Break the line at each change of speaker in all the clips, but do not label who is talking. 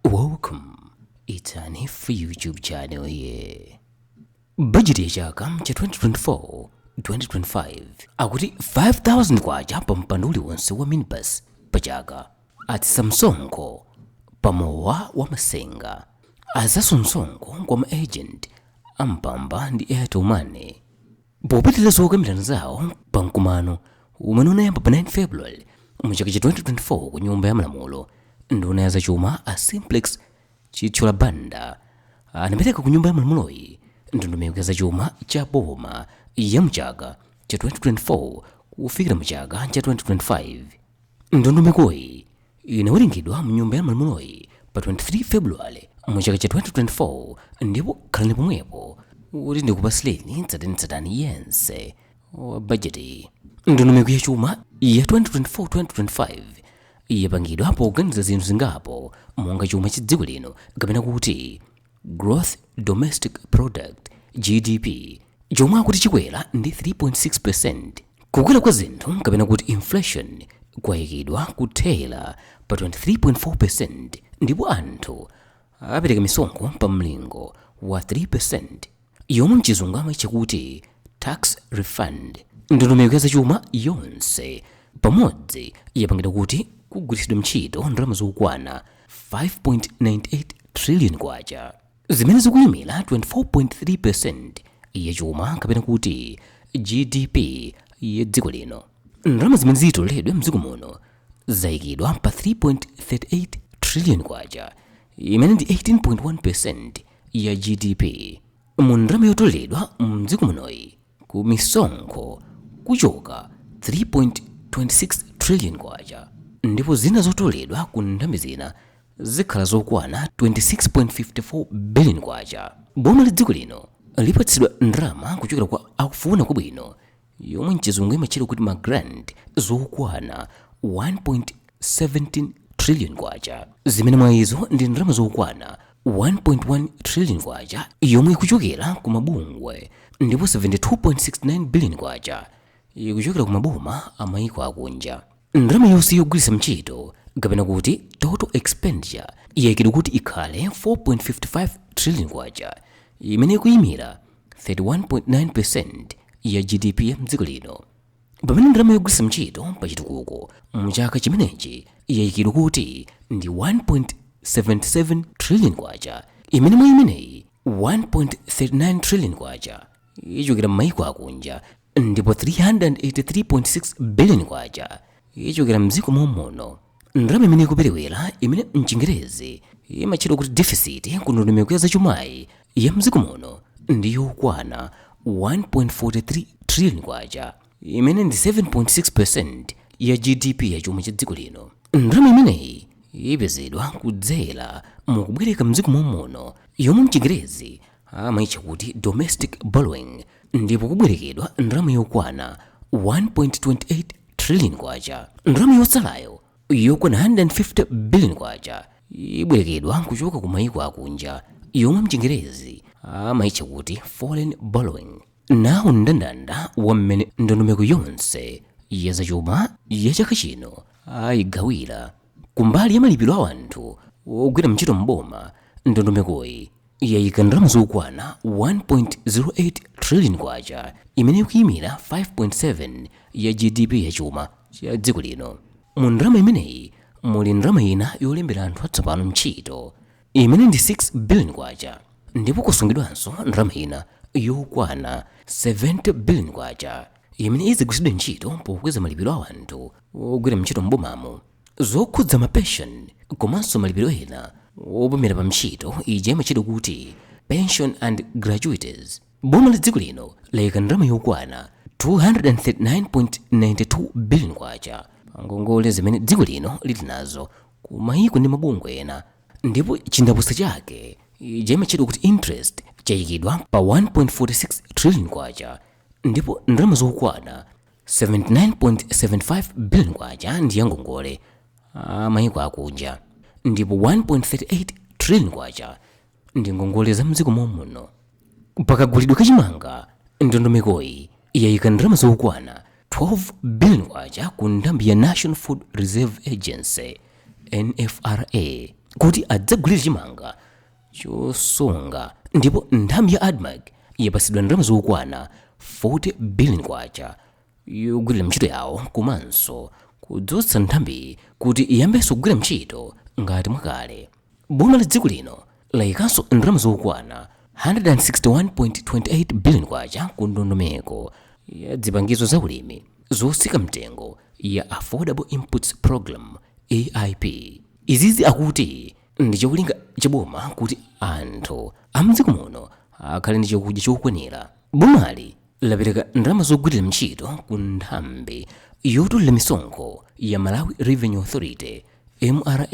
Welcome. It's Nif YouTube channel here. Bajeti ya chaka cha 2024 2025 akuti 5000 kwacha pa mpando uliwonse wa minibus pa chaka atsitsa msonkho pa mowa wa masenga achotsa msonkho kwa ma agent a Mpamba ndi airtel money Popitiriza zokambirana zawo pa mkumano umene unayamba pa 9 February mu chaka cha 2024 ku nyumba ya malamulo, nduna ya zachuma a Simplex Chithyola Banda anapereka ku nyumba ya malamuloyi ndondomeko ya zachuma cha boma ya mu chaka cha 2024 kufikira mu chaka cha 2025. ndondomekoyi inawerengedwa mnyumba ya malamuloyi pa 23 february mu chaka cha 2024 ndipo khalani pomwepo kuti ndikupasileni tsatanitsatani yense wa budget ndondomeko ya chuma ya 2024-2025 yapangidwa poganiza zinthu zingapo monga chuma cha dziko lino kapena kuti Gross Domestic Product GDP chomwe akuti chikwera ndi 3.6%. Kukwera kwa zinthu kapena kuti inflation kwayikidwa kuthera pa 23.4% ndipo anthu apereka misonkho pa mlingo wa 3%. yomwe mchizungu amaitcha kuti tax refund. Ndondomeko ya zachuma yonse pamodzi yapangidwa kuti kugwiritsidwe ntchito ndalama zokwana 5.98 trillion kwacha zimene zikuimira 24.3% ya chuma kapena kuti GDP ya dziko lino. Ndalama zimene zitoleredwe mdziko muno zaikidwa pa 3.38 trillion kwacha imene ndi 18.1% ya gdp mu ndalama yotoleredwa mdziko munoyi ku misonkho kuchoka 3.26 trillion kwacha ndipo zina zotoleredwa ku nthambi zina zikhala zokwana 26.54 billion kwacha boma la dziko lino lipatsidwa ndalama kuchokera kwa akufuna kwabwino yomwe mchizungu imatchedwa kuti ma grant zokwana 1.17 trillion kwacha zimene mwa izo ndi ndalama zokwana 1.1 trillion kwacha yomwe ikuchokera ku mabungwe ndipo 72.69 billion kwacha ikuchokera ku maboma a mayiko akunja Ndalama yonse yogwiritsa ntchito kapena kuti total expenditure yaikidwa kuti ikhale 4.55 trillion kwacha imene ikuyimira 31.9% ya GDP ya mdziko lino. Pamene ndalama yogwiritsa ntchito pa chitukuko mu chaka chimenechi yaikidwa kuti ndi 1.77 trillion kwacha imene mwa imeneyi 1.39 trillion kwacha ichokera m'mayiko akunja ndipo 383.6 billion kwacha ichokera mdziko momuno ndalama imene ikuperewera imene mchingerezi imatchedwa kuti deficit ku ndondomeko ya zachumayi ya mdziko muno ndi yokwana 1.43 trillion kwacha imene ndi 7.6 percent ya gdp ya chuma cha dziko lino ndalama imeneyi ipezedwa kudzera mukubwereka mdziko momuno yomwe mchingerezi amaitcha kuti domestic borrowing ndipo kubwerekedwa ndalama yokwana 1.28 trillion kwacha ndalama yotsalayo yokwana 150 billion kwacha ibwerekedwa kuchoka ku mayiko akunja yomwe mchingerezi amaitcha kuti foreign borrowing nawu mndandanda wa mmene ndondomeko yonse ya zachuma ya chaka chino ayigawira kumbali ya malipiro a anthu ogwira ntchito m'boma ndondomekoyi yayika ndalama zokwana 1.08 trillion kwacha imene ikuyimira 5.7 ya gdp ya chuma cha dziko lino mu ndalama imeneyi muli ndalama ina yolembera anthu atsopano ntchito imene ndi 6 billion kwacha ndipo kusungidwanso ndalama ina yokwana 70 billion kwacha imene idzagwiritsidwe ntchito pokweza malipiro a anthu ogwira ntchito m'bomamo zokhudza ma pension komanso malipiro ena opumira pa ntchito ija imatchedwa kuti pension and gratuities boma la dziko lino layika ndalama yokwana 239.92 billion kwacha pa ngongole zimene dziko lino lili nazo ku mayiko ndi mabungwe ena ndipo chindapusa chake ija imatchedwa kuti interest chayikidwa pa 1.46 trillion kwacha ndipo ndalama zokwana 79.75 billion kwacha ndi yangongole a mayiko akunja ndipo 1.38 trillion kwacha ndi ngongole za mdziko momuno pakagulidwe kachimanga ndondomekoyi yayika ndalama zokwana 12 billion kwacha ku nthambi ya national food reserve agency nfra kuti adzagulire chimanga chosunga ndipo nthambi ya admarc yapatsidwa ndalama zokwana 40 billion kwacha yogwirira ntchito yawo komanso kudzutsa nthambiyi kuti iyambenso kugwira ntchito ngati mwakale boma la dziko lino layikanso ndalama zokwana 161.28 billion kwacha ku ndondomeko ya zipangizo za ulimi zotsika mtengo ya affordable inputs program aip izizi akuti ndi cholinga cha boma kuti anthu amdziko muno akhale ndi chakudya chokwanira bomali lapereka ndalama zogwirira ntchito ku nthambi yotolera misonkho ya malawi revenue authority mra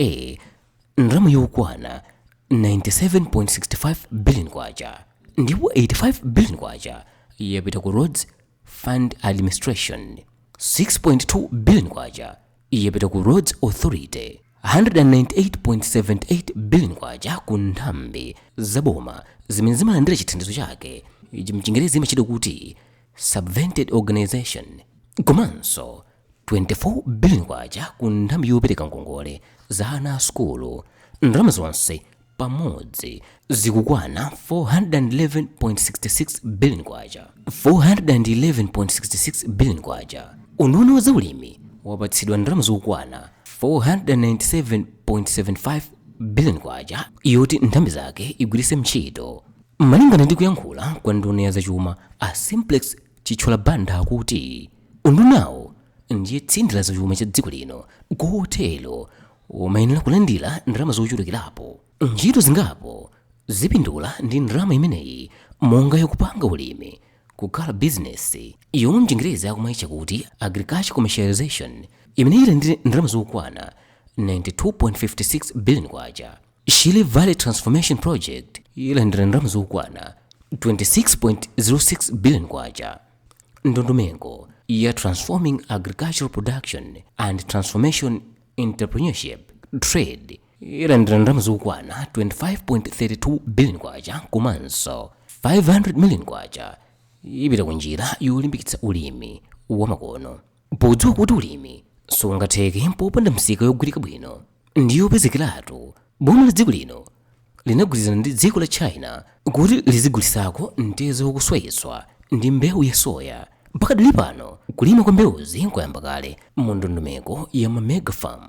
ndalama yokwana 97.65 billion kwacha ndipo 85 billion kwacha yapita ku roads fund administration 6.2 billion kwacha yapita ku Roads Authority 198.78 billion kwacha ku nthambi za boma zimene zimalandira chithandizo chake chimchingerezi imatchedwa kuti subvented organization komanso 24 billion kwacha ku nthambi yopereka ngongole za ana a sukulu ndalama zonse pamodzi zikukwana 411.66 billion kwacha. 411.66 billion kwacha. Unduna wa zaulimi wapatsidwa ndalama zokwana 497.75 billion kwacha yoti nthambi zake igwiritse ntchito. Malingana ndi kuyankhula kwa nduna ya zachuma a Simplex Chithyola Banda akuti undunawo ndiye tsinde la zachuma cha dziko lino kotero umayenera kulandira ndalama zochulukirapo ntchito zingapo zipindula ndi ndalama imeneyi monga yokupanga ulimi kukhala bizinesi yomwe mchingerezi akumaitcha kuti agriculture commercialization imene ilandire ndalama zokwana 92.56 billion kwacha shire valley transformation project ilandira ndalama zokwana 26.06 billion kwacha ndondomeko ya transforming agricultural production and transformation entrepreneurship trade ilandira ndalama zokwana 25.32 billion kwacha komanso 500 million kwacha ipita ku njira yolimbikitsa ulimi wamakono podziwa kuti ulimi sungatheke popanda misika yogwirika bwino ndi yopezekeratu Boma la dziko lino linagwirizana ndi dziko la China kuti lizigulitsako mtedza wokuswayitswa ndi mbewu ya soya. Pakadali pano, kulima kwa mbewuzi kwayamba kale mu ndondomeko ya ma Mega Farm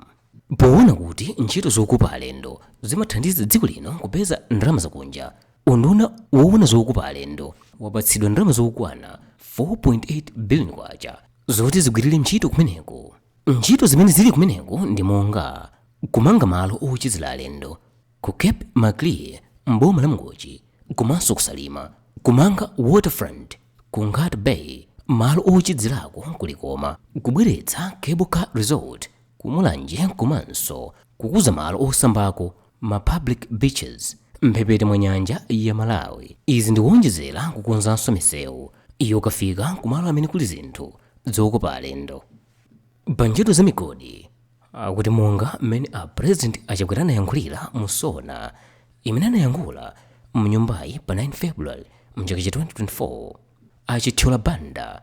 powona kuti ntchito zokopa alendo zimathandiza dziko lino kupeza ndalama zakunja. Unduna wowona zokopa alendo wapatsidwa ndalama zokwana 4.8 billion kwacha zoti zigwirire ntchito kumeneko. ntchito zimene zili kumeneko ndi monga kumanga malo ochezera alendo ku cape maclear m'boma la Mangochi komanso ku Salima kumanga waterfront ku Nkhata Bay malo ochezerako ku Likoma kubweretsa cable car resort ku Mulanje komanso kukuza malo osambako ma public beaches mphepete mwa nyanja ya Malawi. Izi ndi kuonjezera kukonzanso misewu yokafika ku malo amene kuli zinthu zokopa alendo. Pa ntchito za migodi, akuti monga mmene a President a Chakwera anayankhulira mu SONA imene anayankhula mnyumbayi pa 9 February mchaka cha 2024, a Chithyola Banda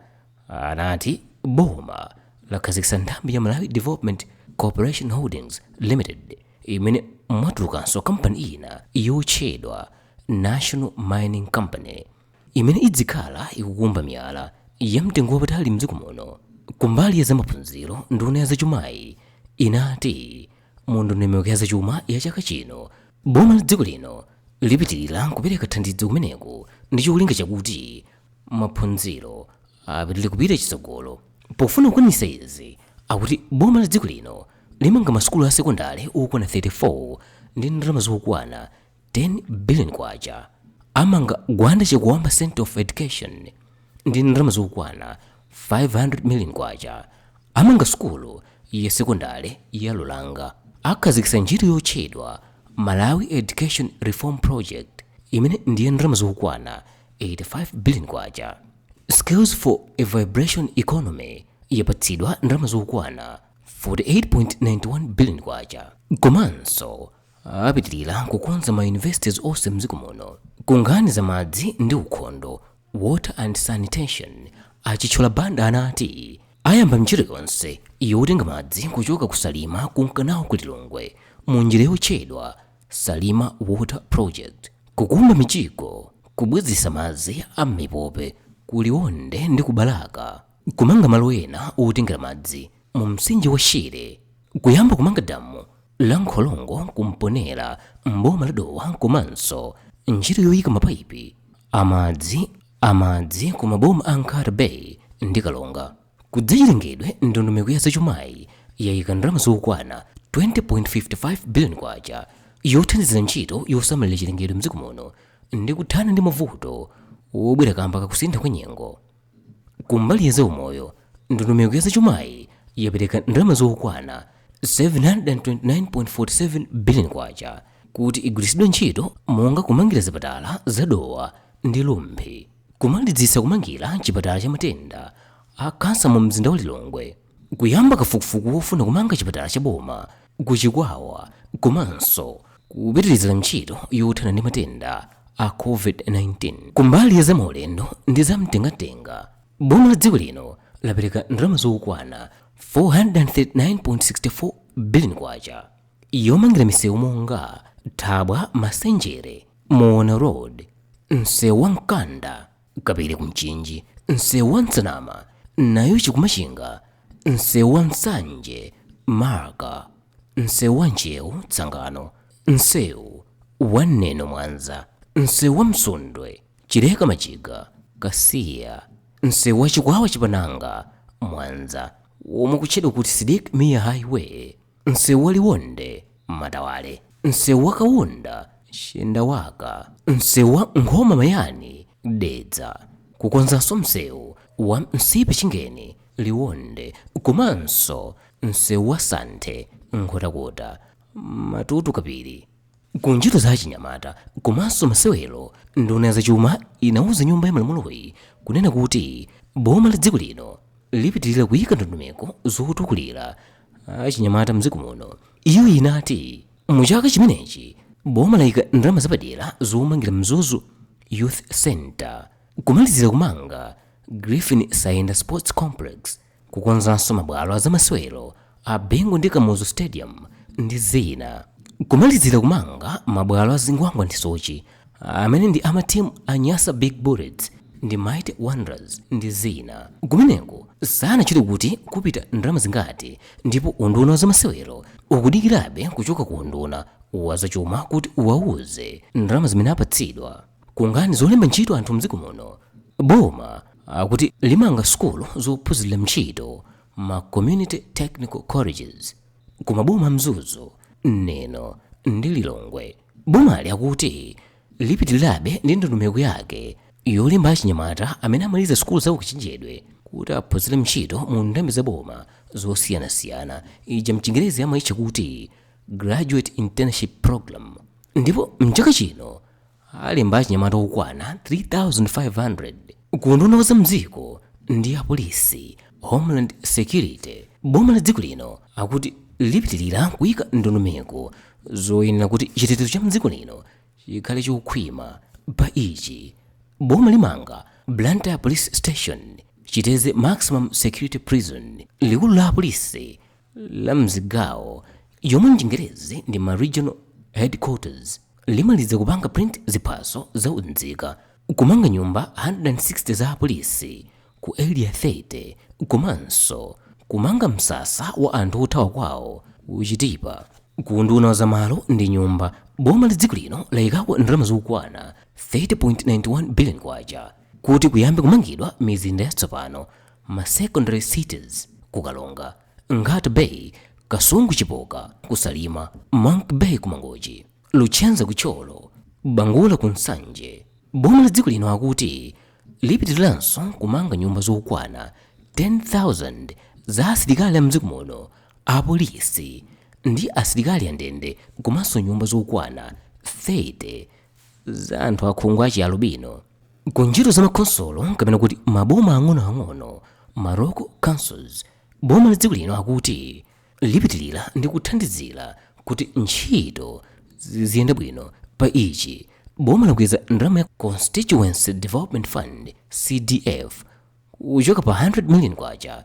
anati boma lakhazikitsa nthambi ya Malawi Development Corporation Holdings Limited imene mwatulukanso kampani ina yotchedwa National Mining Company imene idzikhala ikukumba miyala ya mtengo wapatali mdziko muno. Kumbali ya zamaphunziro, nduna ya zachumayi inati Mu ndondomeko ya zachuma ya chaka chino, boma la dziko lino lipitilira kupereka thandizo kumeneko ndi cholinga chakuti maphunziro apitilire kupita chitsogolo. Pofuna kukwanitsa izi, akuti boma la dziko lino limanga masukulu a sekondale okwana 34 ndi ndalama zokwana 10 billion kwacha amanga gwanda chakuamba center of education ndi ndalama zokwana 500 million kwacha amanga sukulu ya sekondale ya luranga akhazikitsa ntchito yotchedwa malawi education reform project imene ndi ya ndalama zokwana 85 billion kwacha skills for a vibrant economy yapatsidwa ndalama zokwana 48.91 billion kwacha komanso apitilira kukonza ma universities onse mdziko muno ku nkhani za madzi ndi ukhondo water and sanitation a chithyola banda anati ayamba ntchito yonse yotenga madzi kuchoka ku salima kunka nawo ku lilongwe mu njira yotchedwa salima water project kukumba mijigo kubwezeretsa madzi a m'mipope ku liwonde ndi ku balaka kumanga malo ena otengera madzi mu mtsinje wa Shire, kuyamba kumanga damu la Nkholongo ku Mponela m'boma la Dowa komanso ntchito yoyika mapaipi amadzi ku maboma a Nkhata Bay ndi Karonga. Ku zachilengedwe ndondomeko ya zachumayi yayika ndalama zokwana 20.55 billion kwacha yothandizira ntchito yosamalira chilengedwe mdziko muno ndi kuthana ndi mavuto wobwera kamba kakusintha kwa nyengo. Kumbali ya zaumoyo, ndondomeko ya zachumayi yapereka ndalama zokwana 729.47 billion kwacha kuti igwiritsidwe ntchito monga kumangira zipatala za Dowa ndi Rumphi, kumalizitsa kumangira chipatala cha matenda a khansa mu mzinda wa Lilongwe, kuyamba kafukufuku wofuna kumanga chipatala cha boma ku Chikwawa komanso kupitirizira ntchito yothana ndi matenda a COVID-19. Kumbali ya zamaulendo ndi zamtengatenga, boma la dziko lino lapereka ndalama zokwana 439.64 billion kwacha yomangira misewu monga Thabwa Masenjere, Muona Road, msewu wa Mkanda, kapiri kumchinji msewu wa nsanama nayuchi ku machinga msewu wa nsanje marka msewu wa ntcheu tsangano msewu wa neno mwanza msewu wa msundwe chileka majiga kasiya msewu wa chikwawa chapananga mwanza womwe ukutchedwa kuti sidik mia highway msewu wa liwonde matawale msewu wa kaunda chendawaka msewu wa nkhoma mayani dedza kukonzanso msewu wa nsipe chingeni liwonde komanso msewu wa santhe nkhotakota matutu kapiri ku ntchito za achinyamata komanso masewero nduna ya zachuma inauza nyumba ya malamuloyi kunena kuti boma la dziko lino lipitirira kuyika ndondomeko zotukulira achinyamata mdziko muno iyo inati mu chaka chimenechi boma layika ndalama zapadera zomangira mzuzu youth center kumalizira kumanga griffin saenda sports complex kukonzanso mabwalo azamasewero a bingu ndi kamuzu stadium ndi zina kumalizira kumanga mabwalo a zingwangwa ndi soche amene ndi amatimu a nyasa big bullets ndi mighty wanderers ndi zina kumeneko sanatchule kuti kupita ndalama zingati ndipo unduna wa zamasewero ukudikirabe kuchoka ku unduna wa zachuma kuti uwauze ndalama zimene apatsidwa ku nkhani zolemba ntchito anthu mdziko muno boma akuti limanga sukulu zophunzirira ntchito ma community technical colleges kumaboma a mzuzu neno ndi lilongwe Bomali akuti lipitirirabe ndi ndondomeko yake yolemba achinyamata amene amaliza sukulu za ukachenjedwe kuti aphunzire ntchito mu ndambi za boma zosiyanasiyana ija mchingerezi amaitcha kuti graduate internship program ndipo mchaka chino alemba achinyamata okwana 3500 Ku unduna wa za mdziko ndi apolisi, Homeland Security, boma la dziko lino akuti lipitilira kuika ndondomeko zoyenera kuti chitetezo cha mdziko lino chikhale chokhwima. Pa ichi, boma limanga Blantyre Police Station, Chitedze Maximum Security Prison, likulu la apolisi, la mzigawo yomwe m'chingerezi ndi ma regional headquarters limaliza kupanga print ziphaso za unzika kumanga nyumba 160 za apolisi ku area 30 komanso kumanga msasa wa anthu othawa kwawo ku Chitipa ku unduna wa zamalo ndi nyumba boma la dziko lino layikapo ndalama zokwana 30.91 billion kwacha kuti kuyambe kumangidwa mizinda yatsopano, ma secondary cities, ku Karonga, Nkhata Bay, Kasungu Chipoka ku Salima, Monkey Bay ku Mangochi, Luchenza ku Thyolo, Bangula ku Nsanje. Boma la dziko lino akuti lipitiriranso kumanga nyumba zokwana 10,000 za asilikali a mdziko muno, apolisi ndi asilikali andende komanso nyumba zokwana 30 za anthu akhungu lachialubino ku ntchito za makhonsolo kapena kuti maboma ang'onoang'ono ma local councils boma la dziko lino akuti lipitirira ndi kuthandizira kuti ntchito ziyende bwino pa ichi boma lakweza ndalama ya constituency development fund cdf kuchoka pa 100 million kwacha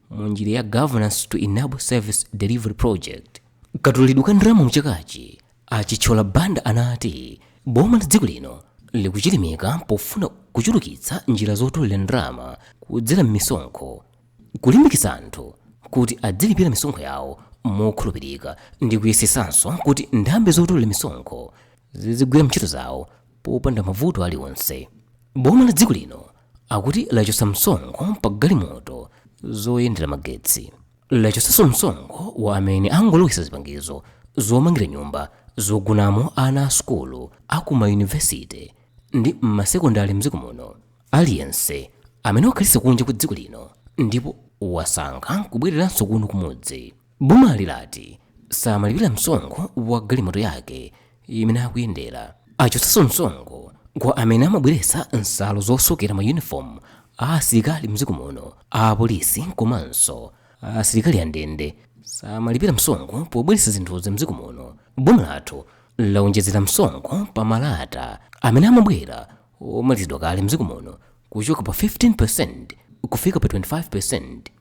mu njira ya Governance to Enable Service Delivery Project. Katoleredwe ka ndalama mchakachi a Chithyola Banda anati boma la dziko lino likuchilimika pofuna kuchulukitsa njira zotolera ndalama kudzera m'misonkho kulimbikitsa anthu kuti adzilipira misonkho yawo mokhulupirika ndi kuyesetsanso kuti nthambi zotolera misonkho zizigwira ntchito zawo popanda mavuto aliwonse boma la dziko lino akuti lachotsa msonkho pa galimoto zoyendera magetsi lachotsanso msonkho kwa amene angalowetse zipangizo zomangira nyumba zogonamo ana a sukulu aku mayunivesite ndi m'masekondari mdziko muno aliyense amene wakhalitsa kunja kwa dziko lino ndipo wasankha kubwereranso kuno kumudzi Bomali lati samalipira msonkho wa galimoto yake imene akuyendera. Achotsanso msonkho kwa amene amabweretsa nsalu zosokera mayunifomu a asilikali m'dziko muno. Apolisi komanso asilikali andende samalipira msonkho pobweretsa zinthuzi m'dziko muno. Boma lathu lawonjezera msonkho pa malata amene amabwera omalizidwa kale m'dziko muno kuchoka pa 15% kufika pa 25%.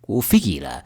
kufikira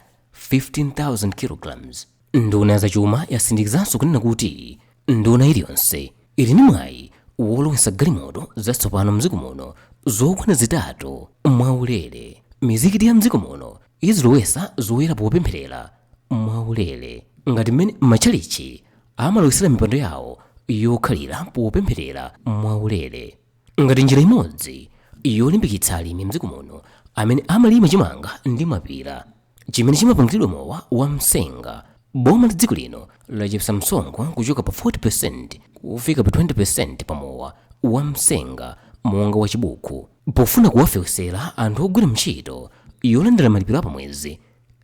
15,000 kg. Nduna ya zachuma yasindikizanso kunena kuti nduna iliyonse ili ndi mwayi wolowetsa galimoto zatsopano m'dziko muno zokwana zitatu mwaulere. Mizikiti ya m'dziko muno izilowetsa zoyala popempherera mwaulere ngati mmene matchalitchi amalowetsera mipando yawo yokhalira popempherera mwaulere. ngati njira imodzi yolimbikitsa alimi mdziko muno amene amalima chimanga ndi mapira chimene chimapangiridwa mowa wa msenga boma la dziko lino lachepsa msonkho kuchoka pa 40% kufika pa 20% pa mowa wa msenga monga wa chibuku pofuna kuwafewesera anthu ogwira ntchito yolandira malipiro apamwezi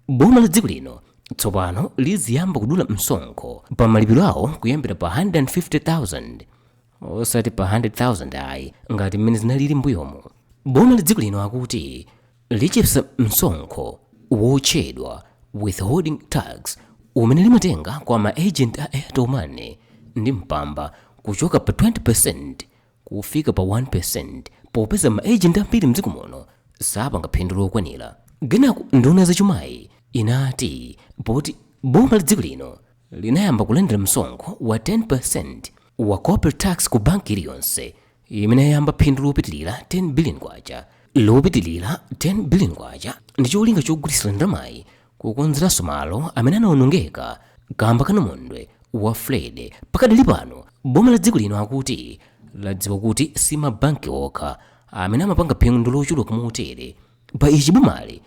boma la dziko lino tsopano liziyamba kudula msonkho pa malipiro awo kuyambira pa 150,000 osati pa 100,000 ayi ngati mmene zinalili mbuyomu boma la dziko lino akuti lichepsa msonkho wotchedwa withholding tax umene limatenga kwa ma agent a airtel money ndi mpamba kuchoka pa 20% kufika pa 1% popeza ma agent ambiri mdziko muno sapanga phindu lokwanira kenako nduna zachumayi inati poti boma la dziko lino linayamba kulandira msonkho wa 10% wa corporate tax ku banki iliyonse imene yayamba phindu lopitilira 10 billion kwacha lopitilira 10 billion kwacha ndi cholinga chogwiritsira ndalamayi kukonzeranso malo amene anaonongeka kamba ka namondwe wa freddy pakadali pano boma la dziko lino akuti ladziwa kuti si mabanki okha amene amapanga phindu lochuluka motere pa ichi bomali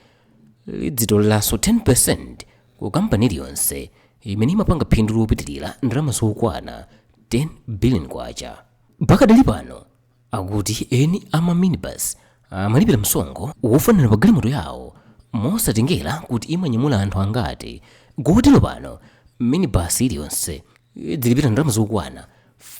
lidzitoleranso 10% ku kampani iliyonse imene imapanga phindu lopitirira ndalama zokwana 10 billion kwacha pakadali pano akuti eni ama minibus amalipira msonkho wofanana pa galimoto yawo mosatengera kuti imanyamula anthu angati kotero pano minibus iliyonse idzilipira ndalama zokwana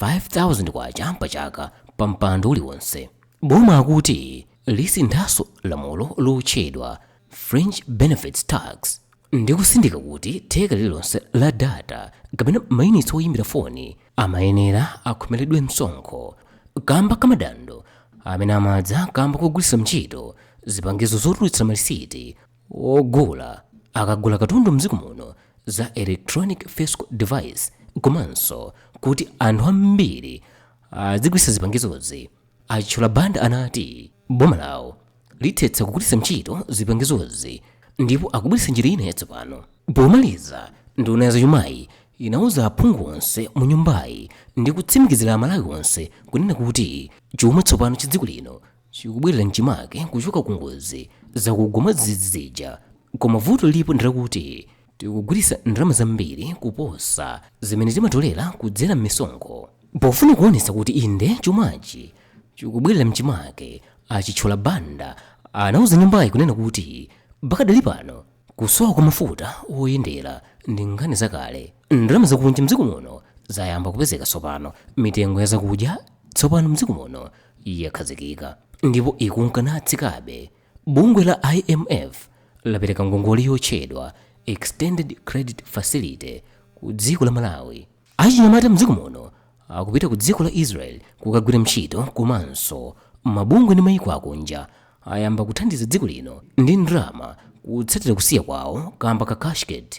5000 kwacha pa chaka pa mpando uliwonse boma akuti lisinthanso lamulo lotchedwa Fringe Benefits Tax ndi kusindika kuti theka lililonse la data kapena mayunitsi oyimbira foni amayenera akhomeredwe msonkho kamba ka madando amene amadza kamba kogwiritsa ntchito zipangizo zotulutsa malisiti ogula akagula katundu mdziko muno za electronic fiscal device komanso kuti anthu ambiri azigwiritsa zipangizozi A Chithyola Banda anati boma lawo lithetsa kugwiritsa ntchito zipangizozi ndipo akubweretsa njira ina yatsopano. Pomaliza, nduna ya zachumayi inauza aphungu onse mu nyumbayi ndi kutsimikizira Amalawi onse kunena kuti chuma tsopano cha dziko lino chikubwerera m'chimake kuchoka ku ngozi zakugwa mwadzidzidzi zija. Koma vuto lilipo ndi lakuti Tikugwiritsa ndalama zambiri kuposa zimene timatolera kudzera m'misonkho. Pofuna kuonetsa kuti inde chumachi chikubwerera m'chimake, a Chithyola Banda anauza nyumbayi kunena kuti pakadali pano kusowa kwa mafuta oyendera ndi nkhani zakale. Ndalama zakunja m'dziko muno zayamba kupezeka tsopano. Mitengo ya zakudya tsopano m'dziko muno yakhazikika ndipo ikunka natsikabe. Bungwe la IMF lapereka ngongole yotchedwa Extended Credit Facility ku dziko la Malawi. Achinyamata a mdziko muno akupita ku dziko la Israel kukagwira ntchito komanso mabungwe ndi mayiko akunja ayamba kuthandiza dziko lino ndi ndalama kutsatira kusiya kwawo kamba ka cashgate.